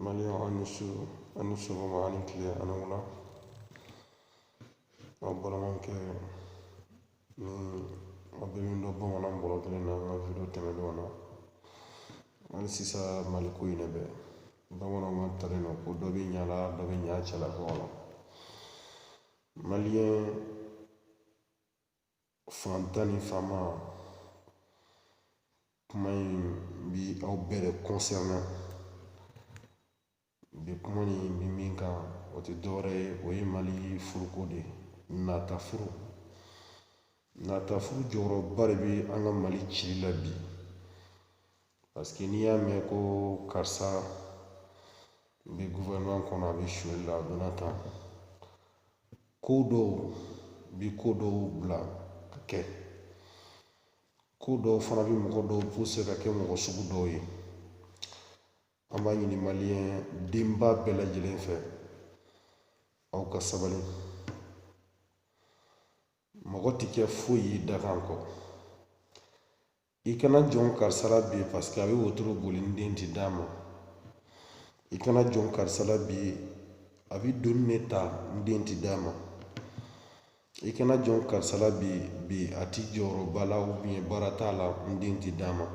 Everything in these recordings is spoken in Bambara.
Maliyɛn aw ni su aw ni sɔgɔma aw ni tile aw ni wula aw balimakɛ ni aw bɛ min dɔn bamanan bɔrɔ kelen na an ka video tɛmɛnenw na hali sisan mali ko in de bɛ bamananw ka talen don ko dɔ bɛ ɲa la dɔ bɛ ɲa cɛlakaw la maliyɛn faantan ni faama kuma in bi aw bɛɛ de concerné bi kuma ni bi min kan o tɛ dɔwɛrɛ ye o ye mali furuko de ye nata furu nata furu jɔyɔrɔba de bɛ an ka mali cili la bi Paseke n'i y'a mɛn ko karisa bɛ gouvernement kɔnɔ a bɛ suɲɛli la a donna tan ko dɔw bi ko dɔw bila ka kɛ ko dɔw fana bɛ mɔgɔ dɔw puse ka kɛ mɔgɔ sugu dɔw ye an b'a ɲini maliyɛn denba bɛɛ lajɛlen fɛ aw ka sabali mɔgɔ tɛ kɛ foyi ye dakan kɔ i kana jɔn karisa la bi paseke a bɛ wotoro boli n den ti d'a ma i kana jɔn karisa la bi a bɛ doninin ta n den ti d'a ma i kana jɔn karisa la bi bi a ti jɔyɔrɔba la ou bien baara t'a la n den ti d'a ma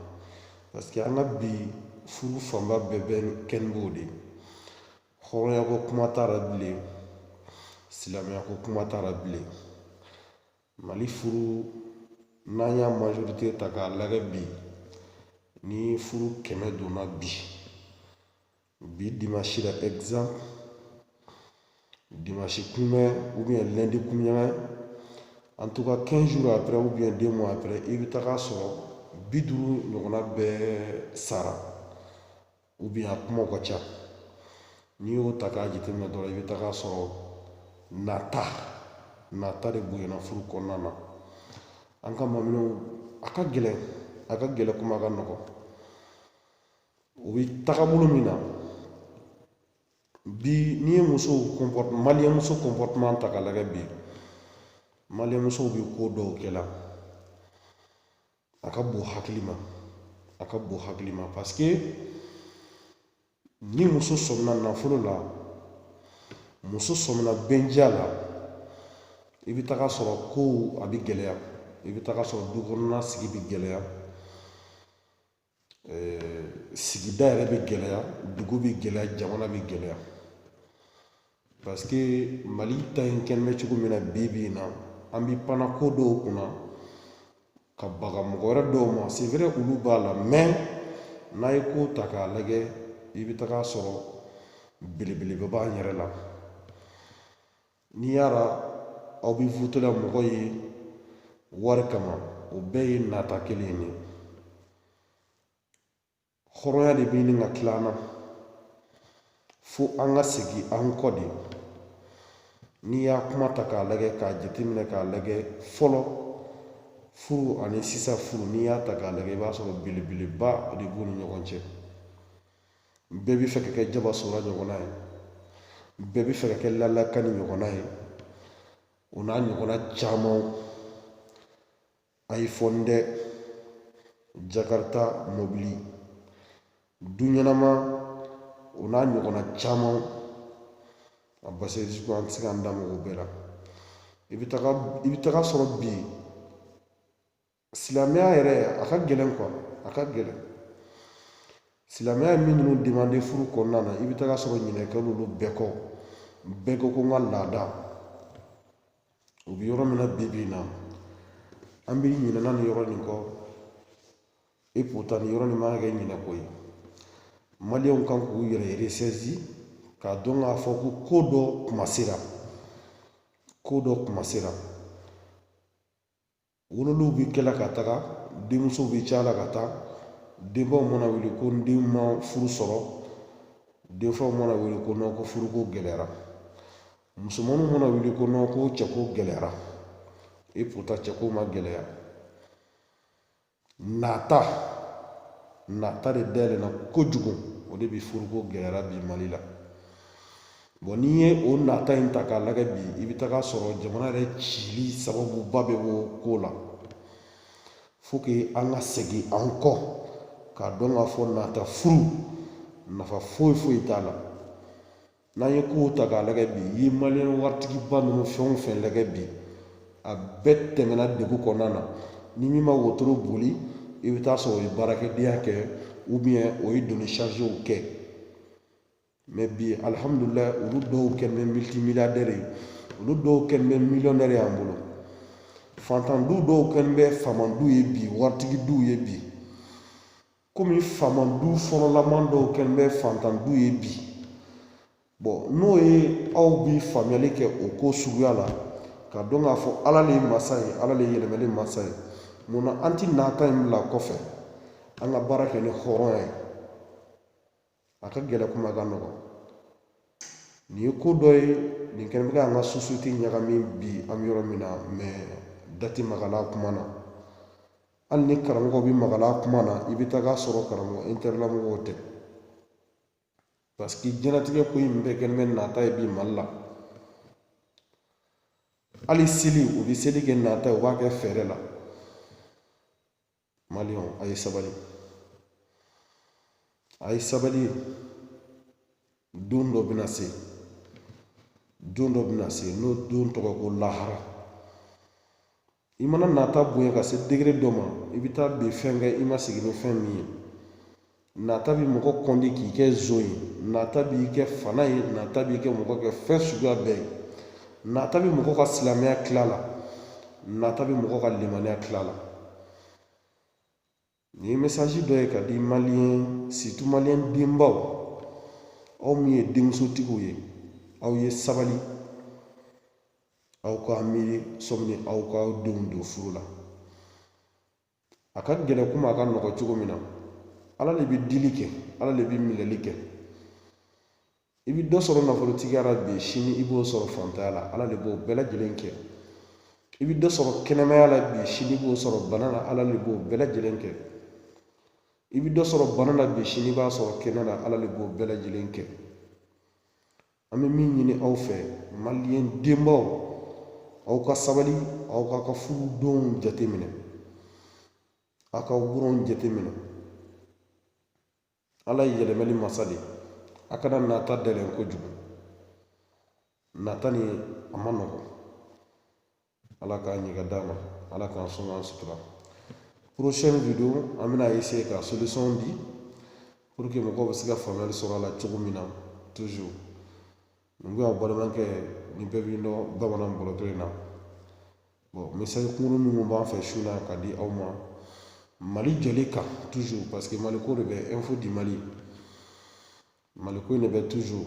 paseke an ka bi furu fanba bɛɛ bɛ kɛ ni b'o de ye hɔrɔnyako kuma t'a la bilen silamɛyako kuma t'a la bilen mali furu n'an y'a majorite ta k'a lagɛ bi ni furu kɛmɛ donna bi bi dimansi la exemple dimansi kunbɛn ou bien lundi kunɲɔgɔn en tout cas 15 jours après ou bien 2 mois après i bɛ taga sɔrɔ bi duuru ɲɔgɔnna bɛɛ sara ou bien a kumaw ka ca n'i y'o ta k'a jateminɛ dɔrɔn i bɛ taga sɔrɔ nata nata de bonyana furu kɔnɔna na an ka maminɛw a ka gɛlɛn a ka gɛlɛn kuma ka nɔgɔ u bɛ tagabolo min na bi n'i ye musow maliyɛn muso comportement ta k'a lajɛ bi maliyɛn musow bɛ ko dɔw kɛ la a ka bon hakili ma a ka bon hakili ma paske ni muso sɔmina nafolo la muso sɔmina bɛndiya la i bɛ taga sɔrɔ kow a bɛ gɛlɛya i bɛ taga sɔrɔ du kɔnɔna sigi bɛ gɛlɛya sigida yɛrɛ bɛ gɛlɛya dugu bɛ gɛlɛya jamana bɛ gɛlɛya parce que mali ta in kɛlen bɛ cogo min na bi bi in na an bɛ panna ko dɔw kunna ka baga mɔgɔ wɛrɛ dɔw ma c'est vrai olu b'a la mais n'a ye ko ta k'a lajɛ i bɛ taga sɔrɔ belebeleba b'an yɛrɛ la n'i y'a la aw bɛ voter la mɔgɔ ye wari kama o bɛɛ ye nata kelen de ye hɔrɔnya de bɛ ɲini ka tila an na fo an ka segin an kɔ de n'i y'a kuma ta k'a lajɛ k'a jateminɛ k'a lajɛ fɔlɔ furu ani sisan furu n'i y'a ta k'a lajɛ i b'a sɔrɔ belebeleba de b'u ni ɲɔgɔn cɛ bɛɛ bɛ fɛ ka kɛ jaba sora ɲɔgɔnna ye bɛɛ bɛ fɛ ka kɛ lala kani ɲɔgɔnna ye o n'a ɲɔgɔnna camanw iphone dɛ jakarita mɔbili du ɲɛnama o n'a ɲɔgɔnna caman a parce que an tɛ se k'an da maga o bɛɛ la i bɛ taga i bɛ taga sɔrɔ bi silamɛya yɛrɛ a ka gɛlɛn quoi a ka gɛlɛn silamɛya ye min ninnu demande furu kɔnɔna na i bɛ taga sɔrɔ ɲinɛ kɛla olu bɛɛ kɔ bɛɛ ko ko n ka laada u bɛ yɔrɔ min na bi bi in na an bɛ ɲinɛna nin yɔrɔ nin kɔ et pourtant nin yɔrɔ nin man kɛ ɲinɛ ko ye maliyɛnw kan k'u yɛrɛ ressaisir k'a dɔn k'a fɔ ko ko dɔ kuma sera ko dɔ kuma sera wololiw bɛ kɛla ka taga denmusow bɛ caya la ka taa denbaw mana wuli ko n den ma furu sɔrɔ denfaw mana wuli ko nɔn ko furuko gɛlɛyara musomanninw mana wuli ko nɔn ko cɛko gɛlɛyara et pourtant cɛko ma gɛlɛya nata nata de dayɛlɛna kojugu o de bɛ furuko gɛlɛyara bi mali la bon n'i ye o nata in ta k'a lagɛ bi i bɛ taga sɔrɔ jamana yɛrɛ cili sababuba bɛ bɔ ko la faut que an ka segin an kɔ k'a dɔn k'a fɔ nata furu nafa foyi foyi t'a la n'an ye kow ta k'a lagɛ bi i ye maliyɛn waritigiba ninnu fɛn o fɛn lagɛ bi a bɛɛ tɛmɛna degun kɔnɔna na ni min ma wotoro boli i bɛ taa sɔrɔ o ye baarakɛdenya kɛ ou bien o ye doni sarizew kɛ mais bi alihamudulilayi olu dɔw kɛlen bɛ multimilliardaire ye olu dɔw kɛlen bɛ millionnaire y'an bolo fantandu dɔw kɛlen bɛ famandu ye bi waritigidu ye bi kɔmi faama du fɔlɔlaman dɔw kɛlen bɛ fantan du ye bi bɔn n'o ye aw bi faamuyali kɛ o ko suguya la ka dɔn k'a fɔ ala le ye masa ye ala le ye yɛlɛmɛli masa ye munna an ti nata in bila kɔfɛ an ka baara kɛ ni hɔrɔnya ye a ka gɛlɛn kuma ka nɔgɔ nin ye ko dɔ ye nin kɛlen bɛ ka an ka sosiyete ɲagami bi an bɛ yɔrɔ min na mɛ da ti maga a la kuma na hali ni karamɔgɔ bi maga a la kuma na i bɛ taga sɔrɔ karamɔgɔ intɛrɛla mɔgɔw tɛ paseke diɲɛlatigɛ ko in bɛɛ kɛlen bɛ nata ye bi mali la hali seli u bɛ seli kɛ nata ye u b'a kɛ fɛɛrɛ la maliyɛnw a ye sabali a ye sabali don dɔ bɛna se don dɔ bɛna se n'o don tɔgɔ ko lahara i mana nata bonya ka se degere dɔ ma i bɛ taa bin fɛn kan i ma sigi ni fɛn min ye nata bi mɔgɔ kɔndi k'i kɛ zon ye nata b'i kɛ fana ye nata b'i kɛ mɔgɔ kɛ fɛn suguya bɛɛ ye nata bi mɔgɔ ka silamɛya tila la nata bi mɔgɔ ka limaniya tila la nin ye mesaji dɔ ye ka di maliyɛn sirutu maliyɛn denbaw aw min ye denmusotigiw ye aw ye sabali aw k'a miiri sani aw k'aw denw don furu la a ka gɛlɛn kuma a ka nɔgɔ cogo min na ala le bɛ dili kɛ ala le bɛ minɛli kɛ i bɛ dɔ sɔrɔ nafolotigiya la bi sini i b'o sɔrɔ fantanya la ala le b'o bɛɛ lajɛlen kɛ i bɛ dɔ sɔrɔ kɛnɛmaya la bi sini i b'o sɔrɔ bana la ala le b'o bɛɛ lajɛlen kɛ i bɛ dɔ sɔrɔ bana la bi sini i b'a sɔrɔ kɛnɛ la ala le b'o bɛɛ lajɛlen kɛ an bɛ min ɲini aw fɛ maliyɛn denbaw aw ka sabali aw k'a ka furudenw jateminɛ aw ka wuronw jateminɛ ala ye yɛlɛmɛli masa de a kana nata dɛlɛn kojugu nata nin a man nɔgɔ ala k'a ɲɛ ka d'an ma ala k'an sɔn k'an sutura prochaine video an bɛna essayer ka solution di pour que mɔgɔw bɛ se ka faamuyali sɔrɔ a la cogo min na toujours nin bɛ ka balimakɛ nin bɛɛ bɛ dɔn bamanan bɔlɔtɔ in na bon message kunkurun minnu b'an fɛ su la ka di aw ma mali jɔli kan toujours parce que mali ko de bɛ info di mali mali ko in de bɛ toujours